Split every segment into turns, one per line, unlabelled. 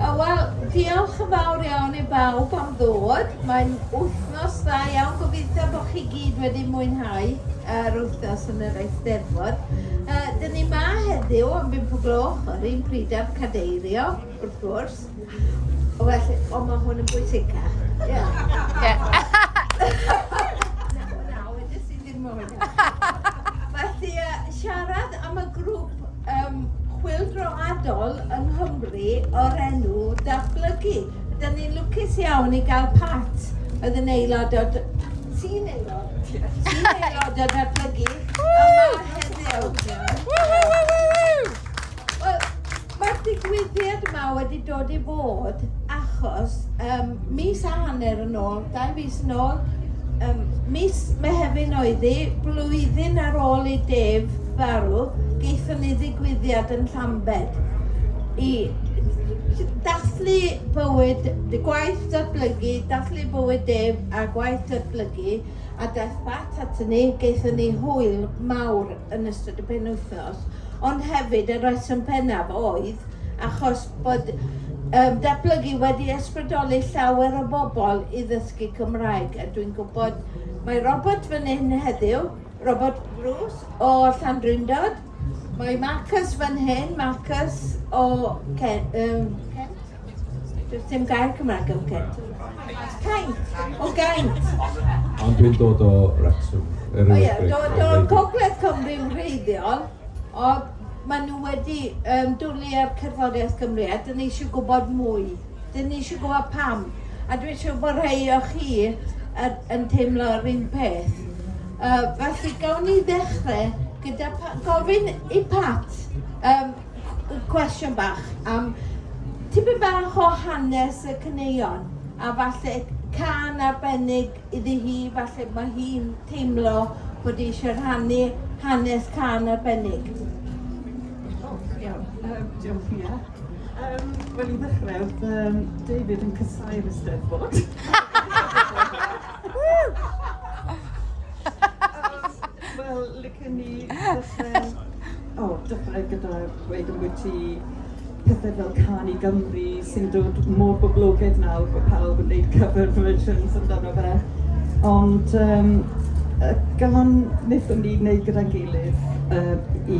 O wel, diolch yn fawr iawn i bawb am ddod. Mae'n wythnos dda iawn. Gobeithio bod chi gyd wedi mwynhau yr wythnos yn yr Eisteddfod. Uh, dyn ni ma heddiw am bimp o gloch, yr un pryd â'r cadeirio, wrth gwrs. O felly, o mae hwn yn bwysicach. Ie. Yeah. Felly, siarad am y grŵp yym chwyldroadol yng Nghymru o'r enw Datblygu. Dyn ni'n lwcus iawn i gael Pat, oedd yn aelod o... ti'n aelod? ti'n aelod o Datblygu, yma heddiw. Wel, mae'r digwyddiad yma wedi dod i fod achos um, mis a hanner yn ôl, dau mis yn ôl, um, mis Mehefin oedd hi, blwyddyn ar ôl i Def farw, geithon ni ddigwyddiad yn Llambed i dathlu bywyd, gwaith datblygu, dathlu bywyd Def a gwaith datblygu a daeth Pat atyn ni, geithon ni hwyl mawr yn ystod y penwythnos. ond hefyd y rheswm pennaf oedd achos bod um, datblygu wedi ysbrydoli llawer o bobl i ddysgu Cymraeg. A dwi'n gwybod, mae Robert fan hyn heddiw, Robert Bruce o Llandrindod, mae Marcus fan hyn, Marcus o Ken, um, Kent. Dim gair Cymraeg am gent. Caint! O gaint! Ond dwi'n
dod o Wrecsam. O ie, dod
o Gogledd Cymru'n wreiddiol, ond maen nhw wedi um, dwlu ar cerddoriaeth Gymru a dyn ni eisiau gwybod mwy. Dyn ni eisiau gwybod pam. A dwi eisiau bod rhai o chi er, yn teimlo yr un peth. Uh, felly, gawn ni ddechrau gyda gofyn i Pat um, cwestiwn bach am tipyn bach o hanes y caneuon a falle can arbennig iddi hi, falle mae hi'n teimlo bod hi eisiau rhannu hanes can arbennig. Oh, iawn, um,
diolch Mia. Um, Wel, i ddechrau, um, David yn cysau'r ysteddfod. Wel, licen ni ddechrau... O, dechrau gyda dweud ambwyt ti pethe fel Cân i Gymru sy'n dod mor boblogaidd nawr bod pawb yn neud cover versions amdano fe. Ond yym y gân wnaethon ni neud gyda'n gilydd yy i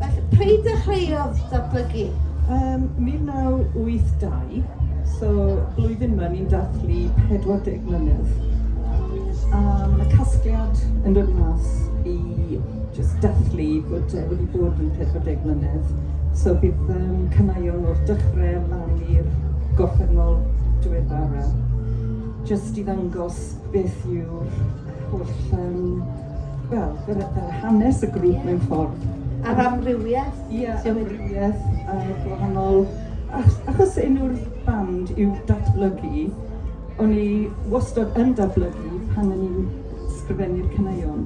Felly, pryd dechreuodd
datblygu? Ym 1982, so blwyddyn yma ni'n dathlu 40 mlynedd. A mae 'na casgliad yn dod mas i jyst dathlu bod e wedi bod yn 40 mlynedd. So bydd um, canaion o'r dechrau lan i'r gorffennol diweddara. Jyst i ddangos beth yw'r holl um, Wel, yr y yr hanes y grŵp mewn ffordd. A'r amrywieth.
Ie, amrywieth
a gwahanol ach- achos enw'r band yw Datblygu, o'n i wastod yn datblygu pan o'n i'n sgrifennu'r caneuon,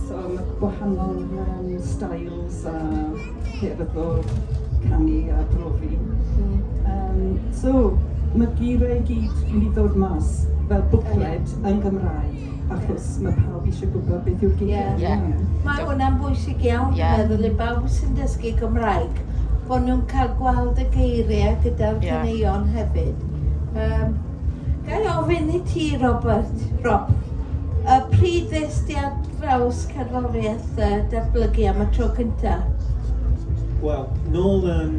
so ma' gwahanol yym styles a ffyrdd o canu a brofi. Hmm. Yym so ma'r geiriau i gyd wedi dod mas fel bwcled yn Gymraeg. achos ma' pawb isie gwbod beth yw'r gig... Ie. ...ie. Ma' hwnna'n
bwysig iawn... Ie. ...dwi'n meddwl i bawb sy'n dysgu Cymraeg, bo' nw'n ca'l gweld y geirie gyda'r... Ie. ...caneuon hefyd. Yym, ga' i ofyn i ti Robert, Rob, y pryd ddes di ar draws cerddoriaeth yy datblygu am y tro cynta? Wel,
nôl yn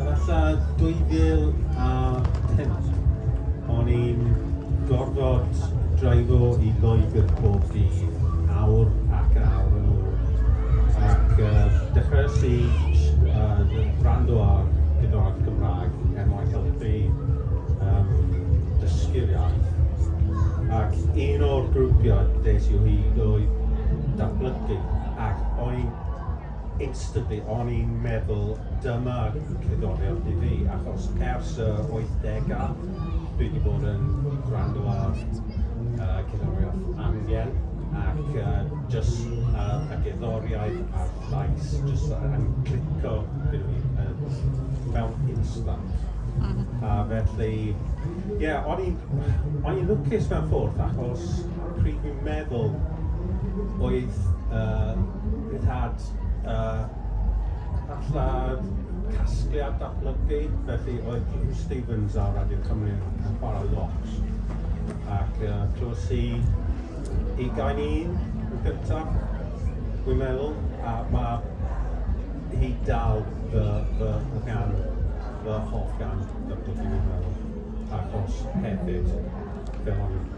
efalla 2005. O'n i'n gorfod dreifo i Loegr pob dydd, awr ac awr yn ôl, ac dechreuais i wrando ar gerddoriaeth Cymraeg er mwyn helpu dysgu'r iaith, ac un o'r grwpiau ddes i o hyd oedd datblygu, ac o'n i'n Instantly o'n i'n meddwl dyma cerddoriaeth i fi achos ers y wythdegau dwi wedi bod yn gwrando ar uh, cerddoriaeth angen ac uh, just uh, y gerddoriaeth a'r llais just uh, yn clico gyda fi uh, mewn instant. Mm-hmm. A felly, ie, yeah, o'n i'n lwcus mewn ffordd achos pryd fi'n meddwl oedd uh, We've had uh, allan casgliad datblygu, felly oedd Hugh Stevens ar Radio Cymru yn chwarae lot. Ac uh, clywed si i gain un yn gyntaf, dwi'n meddwl, a mae hi dal fy, fy, fy gan, fy hoff gan datblygu, dwi'n meddwl. Ac os hefyd, fel o'n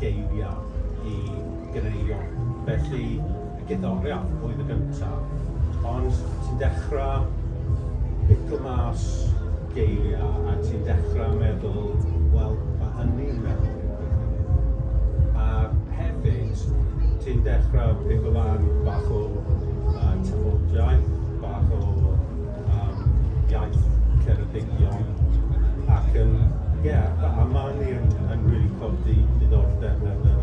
geiriau i gneio. Felly, y guddorea oedd y gyntaf. Ond ti'n dechrau biclo mas geiriau a ti'n dechrau meddwl, wel, mae hynny'n meddwl i fi hefyd. A hefyd, ti'n dechrau pigo lan bach o uh, tafodiaith, bach o am iaith Ceredigion ac yn ie a a ma' hynny yn yn rili codi diddordeb
yn y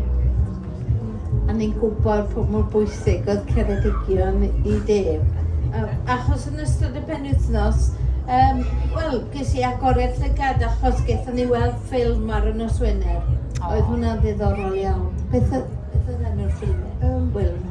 A ni'n gwybod pa mor bwysig oedd Ceredigion i Dave. Yy achos yn ystod y penwythnos yym wel ges i agored llygad achos gethon ni weld ffilm ar y nos Wener. Oedd hwnna'n ddiddorol iawn. Beth oedd beth oedd enw'r ffilm? Yym. Wil.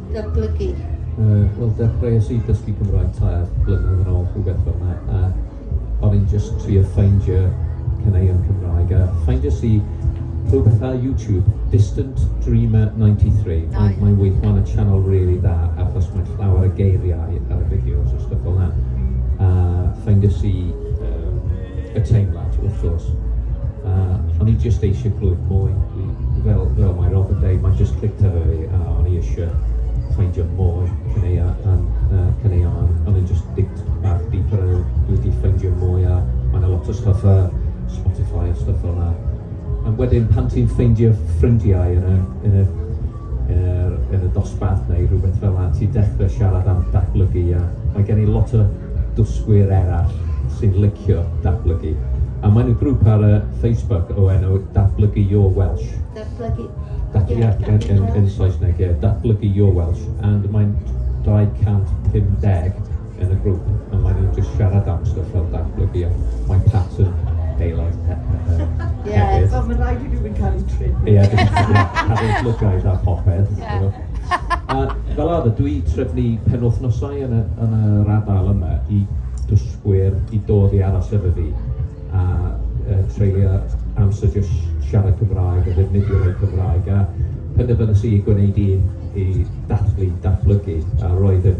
datblygu? Yy, wel
dechreuais i dysgu Cymraeg tair blynedd yn ôl, rhywbeth fel yna, a o'n i'n just trio ffeindio caneuon Cymraeg, a ffeindiais i rhywbeth ar YouTube, Distant Dreamer 93. Mae, mae weithio yn y channel really da, achos mae llawer y geiriau ar y fideos a stuff fel yna. A ffeindiais i yy y teimlad wrth gwrs a o'n i jyst eisiau clywed mwy i, fel, fel mae Rob yn dweud mae'n jyst clic ar fi a o'n i eisiau ffeindio mwy cyneuo yn uh, cyneuo yn o'n i'n jyst dig bach deeper a dwi wedi ffeindio mwy a mae'n a lot o stuff a Spotify a stuff fel yna a wedyn pan ti'n ffeindio ffrindiau yn y, yn y er, yn y dosbarth neu rhywbeth fel yna, ti'n dechrau siarad am datblygu a mae gen i lot o dysgwyr eraill sy'n licio datblygu. A mae'n y grŵp ar y Facebook o enw Datblygu Your Welsh. Datblygu... Datblygu yeah, yn, yn, yn Saesneg, ie. Yeah, datblygu Your Welsh. And mae'n 250 yn y grŵp a mae nhw'n jyst siarad am stwff fel datblygu a mae Pat yn daylight he
he hefyd. Ie, so mae'n rhaid i rywun
cael ei trin. Ie, cael ei llygaid a popeth. A fel arfer, dwi trefnu penwythnosau yn y, yn y radal yma i dysgwyr i dod i aros efo fi a uh, treulio amser jyst siarad Cymraeg a ddefnyddio eu Cymraeg a penderfynus i gwneud un i dathlu, datblygu a roedd yn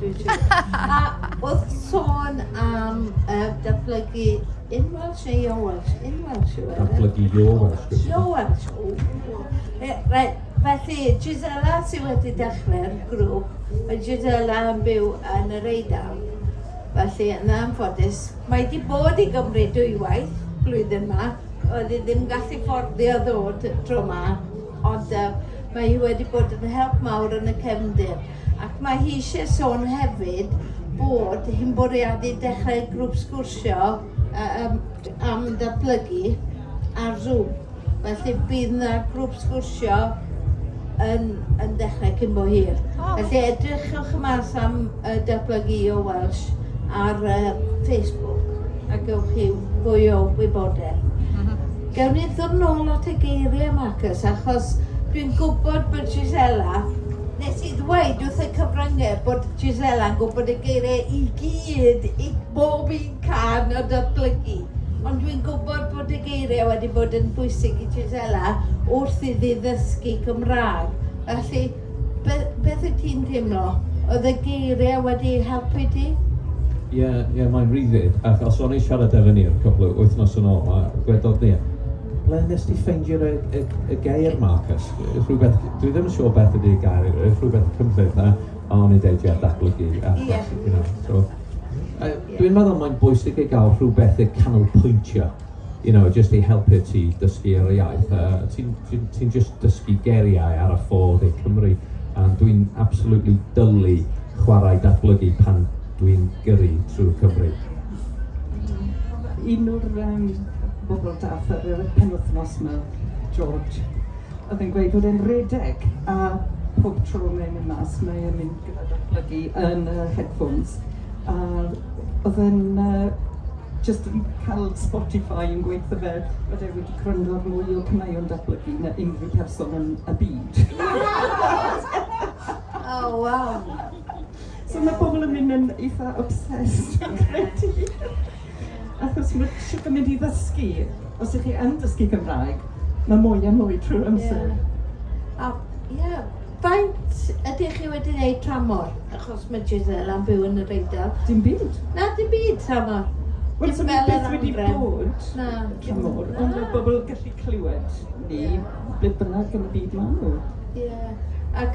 A wrth sôn am yy datblygu in Welsh neu your Welsh? In Welsh yw e? Datblygu your Welsh
gyda ti. Your Welsh, ww. E,
reit, felly Gisela sydd wedi dechrau'r grŵp, mae Gisela yn byw yn yr Eidal. Felly, yn anffodus, mae wedi bod i Gymru dwywaith blwyddyn yma, oedd hi ddim gallu fforddio ddod tro yma, ond uh, mae hi wedi bod yn help mawr yn y cefndir. Ac mae hi eisiau sôn hefyd bod hi'n bwriadu dechrau grŵp sgwrsio um, am ddatblygu ar Zoom. Felly bydd yna grŵp sgwrsio yn, yn dechrau cyn bo hir. Felly edrychwch mas am uh, datblygu o Welsh ar uh, Facebook a gewch chi fwy o wybodaeth. Mhm. Gawn ni ddod nôl at y geiriau, Marcus, achos dwi'n gwybod bod Gisela Nes i ddweud wrth y cyfryngau bod Gisela yn gwybod y geiriau i gyd i bob un can o datblygu, ond dwi'n gwybod bod y geiriau wedi bod yn bwysig i Gisela wrth iddi ddysgu Cymraeg. Felly, be, beth wyt ti'n teimlo? Oedd y geiriau wedi helpu ti? Ie, yeah,
yeah, mae'n rhyddid, achos o'n i siarad efo ni cwpl o wythnos yn ôl, a gwedodd ni, Ble wnest ti ffeindio y, y, y gair Marcus? Rhywbeth, dwi ddim yn siŵr beth ydy'r gair, rhywbeth cymryd na, a o'n i deud a datblygu. A, yeah. you know, so, a, dwi'n meddwl mae'n bwysig i gael rhywbeth i canolpwyntio, you know, just i helpu ti dysgu ar y iaith. Uh, ti'n ti, ti just dysgu geriau ar y ffordd i Cymru, a dwi'n absolutely dylu chwarae datblygu pan Dwi'n gyrru trwy Cymru.
Un o'r yym bobl dath ar yr penwythnos 'ma, George, oedd e'n gweud bod e'n redeg a pob tro mae'n mynd mas mae e'n mynd gyda datblygu yn y headphones a oedd e'n yy jyst yn cael Spotify yn gweithio fe bod e wedi gwrando ar mwy o caneuon datblygu na unrhyw person yn y byd.
Oh wow! So
mae pobl yn mynd yn eitha obsessed fi'n credu. Achos mae eisiau gymaint i ddysgu. Os ydych chi yn dysgu Cymraeg, mae mwy a mwy trwy'r amser. Yeah. A, yeah.
Faint ydych chi wedi gwneud tramor? Achos mae Giselle am byw yn yr Eidal. Dim byd. Na,
dim byd
tramor. Wel, so mae beth
wedi bod na, tramor, ond mae bobl gallu clywed ni, beth bynnag yn y byd maen nhw. Yeah. Ac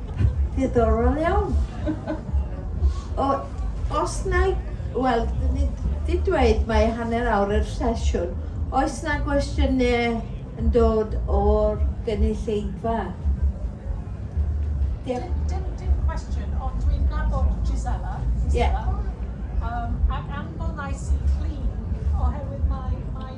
Diddorol iawn. O, os na i, wel, ni di dweud mae hanner awr yr sesiwn. Oes na gwestiynau yn dod o'r gynulleidfa? Dim, dim, dim cwestiwn, ond dwi'n nabod Gisela. Gisela. Yeah. Um, ac
anfonais i cli oherwydd mae, mae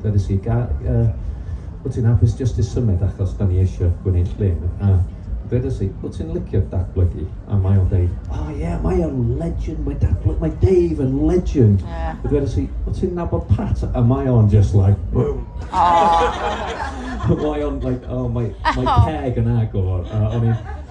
Dywedais i, Ga, yy, wyt ti'n hapus jyst i symud achos da ni eisiau gwneud llun? A dywedais i, wyt ti'n licio datblygu? A mae o'n deud, o oh, ie, yeah, mae o'n legend, mae datblygu, mae Dave yn legend. Yeah. A dywedais i, wyt ti'n nabod Pat? A mae o'n just like, boom. Oh. mae o'n like, oh, mae, mae peg yn agor. Uh, o'n i'n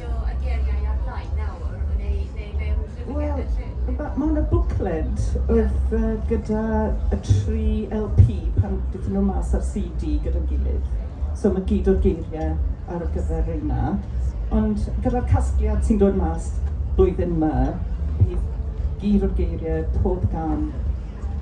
ffitio
y geiriau ar-lein nawr, neu, neu mae nhw'n lle well yn lle? Wel, mae yna bwcled oedd uh, gyda y tri LP pan gyda nhw mas ar CD gyda'n gilydd. So mae gyd o'r geiriau ar y gyfer reina. Ond gyda'r casgliad sy'n dod mas blwyddyn yma, bydd gyd o'r geiriau pob gan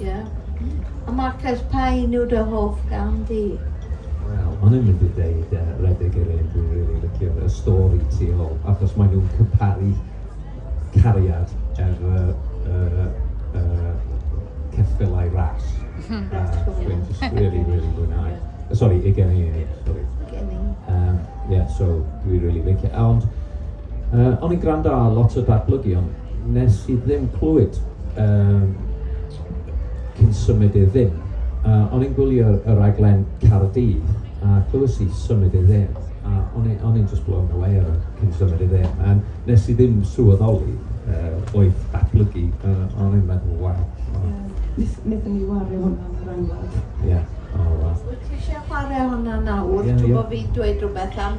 Ie. A Marcus, pa un yw dy hoff gan di? Wel, o'n
i'n mynd i ddeud uh, Redig yr un, dwi'n rili really licio'r y stori tu ôl, achos maen nhw'n cyparu cariad er y uh, uh, ceffylau ras. Hmm. A dwi'n just really, really mwynhau. Sorry, i gen i, sorry. Gen i. Um, yeah, so dwi'n really licio. Ond Yy o'n i'n gwrando ar lot o datblygion, wnes i ddim clywed yy cyn symud i'r dde. Yy o'n i'n gwylio y rhaglen Caerdydd a clywais i symud i'r dde a o'n i o'n i'n jyst blown away o cyn symud i'r dde a wnes i ddim sylweddoli yy oedd datblygu yy o'n i'n meddwl waw o. Ie nes- nethon ni wario hwnna
yn yr angladd. Ie o waw. Wyt ti
isie chware hwnna nawr? Ie ie. Dw bo fi'n dweud rwbeth am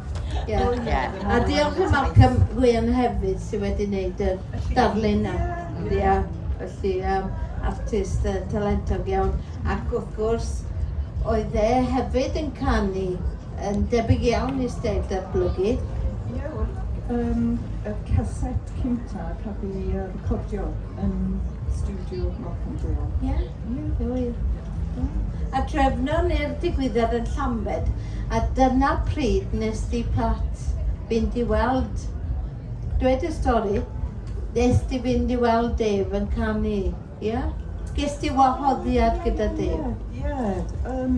Ie. Ie. A
diolch i
Malcolm Wynne hefyd sydd wedi wneud y darlun a ia, felly um, artist uh, talentog iawn. Ac wrth gwrs, oedd e hefyd yn canu yn debyg iawn i steil datblygu. Ie,
wel, um, y caset cynta cafodd ei recordio yn studio Malcolm Dale. Ie.
A drefnon ni'r digwyddiad yn Llambed a dyna pryd nes di Pat fynd i weld, dweud y stori, nes di fynd i weld Dave yn canu, ia? Ges di wahoddiad gyda Dave? Ie, ie, yym...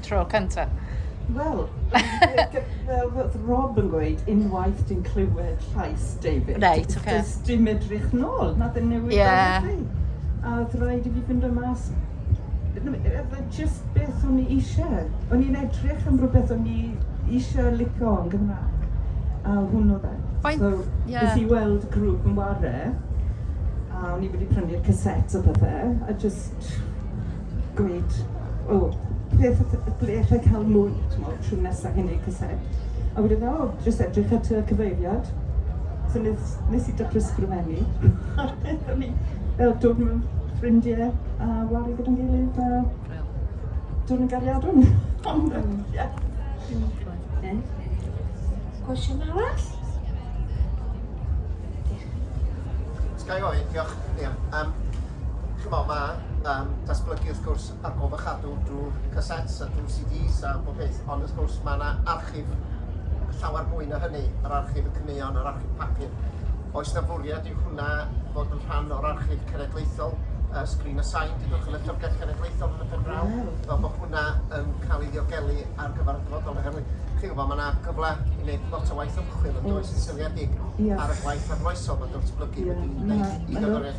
tro cynta. Wel,
fel oedd Rob yn gweud, unwaith ti'n clywed llais David, right, okay. does dim
edrych
nôl, na dim newid
yeah.
A oedd rhaid i fi fynd o mas just beth o'n i eisiau. O'n i'n edrych am rhywbeth o'n i eisiau licio yn Gymraeg. A hwn o fe. So, yeah.
nes i
weld
grŵp
yn ware, a o'n i wedi prynu'r cassettes o pethau, a just gweud, o, ble ff- ff- ble alla i cael mwy, t'mod, tro nesa i neud casedd? A wedyn o, jyst edrych ar tŷ y cyfeiriad. So nes nes i dechre sgrifennu a nethon ni fel dod mewn ffrindie a wario gyda'n gilydd a dod yn gariadon. Ond yym ie. Ie.
Cwestiwn arall? Sgai
ofyn, diolch. Ia, yym Ch'mo', ma' yym datblygu wrth gwrs ar ôl fy chadw drwy'r cassettes a drwy'r CDs a bob peth, ond wrth gwrs ma' 'na archif llawer mwy na hynny, yr archif y caneuon, yr archif papur. Oes 'na fwriad i hwnna fod yn rhan o'r archif cenedlaethol, uh, Screen a Sign, dydwch yn y Llyfrgell Genedlaethol yn y pen draw, fel bod hwnna yn cael ei ddiogelu ar gyfer y dyfodol, oherwydd chi'n gwybod, mae yna gyfle i wneud lot o waith ymchwil yn does yn seiliedig ar y gwaith arloesol mae datblygu wedi wneud i gyfraith.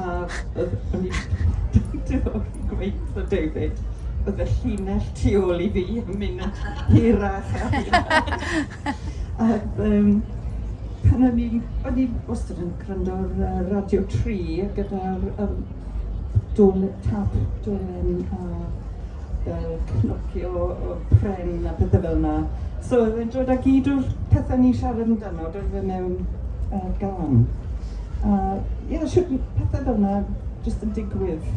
A o'n i gweud David, oedd y llinell tu ôl i fi yn mynd hirach a hirach. Ac yym pan o'n i'n, o'n i wastad yn gwrando ar Radio 3 gyda'r um, dwn tap, dwn a fel cnocio o pren a pethau fel yna. So oedd e'n dod â gyd o'r pethau ni'n siarad amdano, doedd e mewn uh, gan. A ie, shwt ma' pethe fel 'na jyst yn digwydd.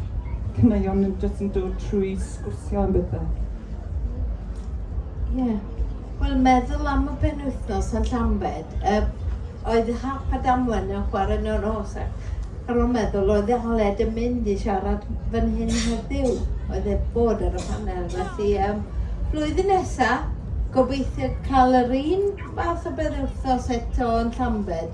Caneuon yn jyst yn dod trwy sgwrsio am bethe. Ie.
Wel, meddwl am y penwythnos yn Llambed, yy, oedd Hap a Damwen yn chwarae yn y nos ac ar ôl meddwl oedd Aled yn mynd i siarad fan hyn heddiw, oedd e bod ar y panel, felly yym flwyddyn nesa, gobeithio cael yr un fath o benwythnos eto yn Llambed.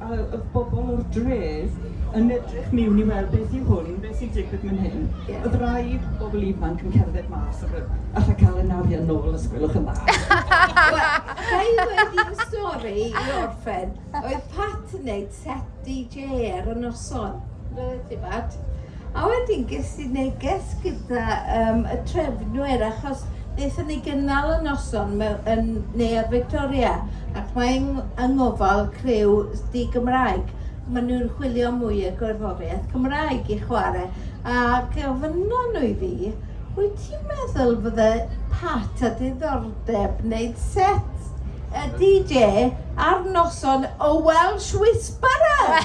a oedd bobl o'r dref yn edrych miwn i weld beth yw hwn, beth sy'n digwydd man hyn. Ie. Oedd rai bobl ifanc yn cerdded mas ac oedd, alla cael ein arian nôl os gwelwch yn dda.
Ga i ddweud stori i orffen? Oedd Pat yn neud set DJ ar y noson. Reit, ti Pat. A wedyn ges i neges gyda um, y trefnwyr, achos wnaethon ni gynnal y noson mewn, yn Neuadd Victoria, ac mae yng, yng ngofal criw di Gymraeg. Maen nhw'n chwilio mwy o gerddoriaeth Cymraeg i chwarae. A gofynno nhw i fi, wyt ti'n meddwl fydde Pat a diddordeb wneud set y DJ ar noson o Welsh Whisperer?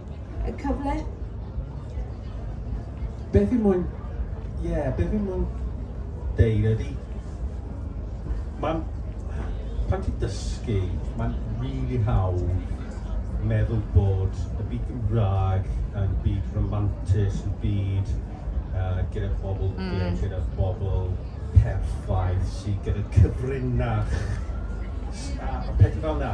Y cyfle.
Beth fi'n mwyn... Ie, yeah, beth fi'n mwyn deud ydy... Mae'n... Pan ti'n dysgu, mae'n really hawdd meddwl bod y byd Gymraeg yn byd romantis, yn byd uh, gyda bobl mm. gig, gyda bobl perffaith, sydd gyda cyfrinach, a pethau fel yna.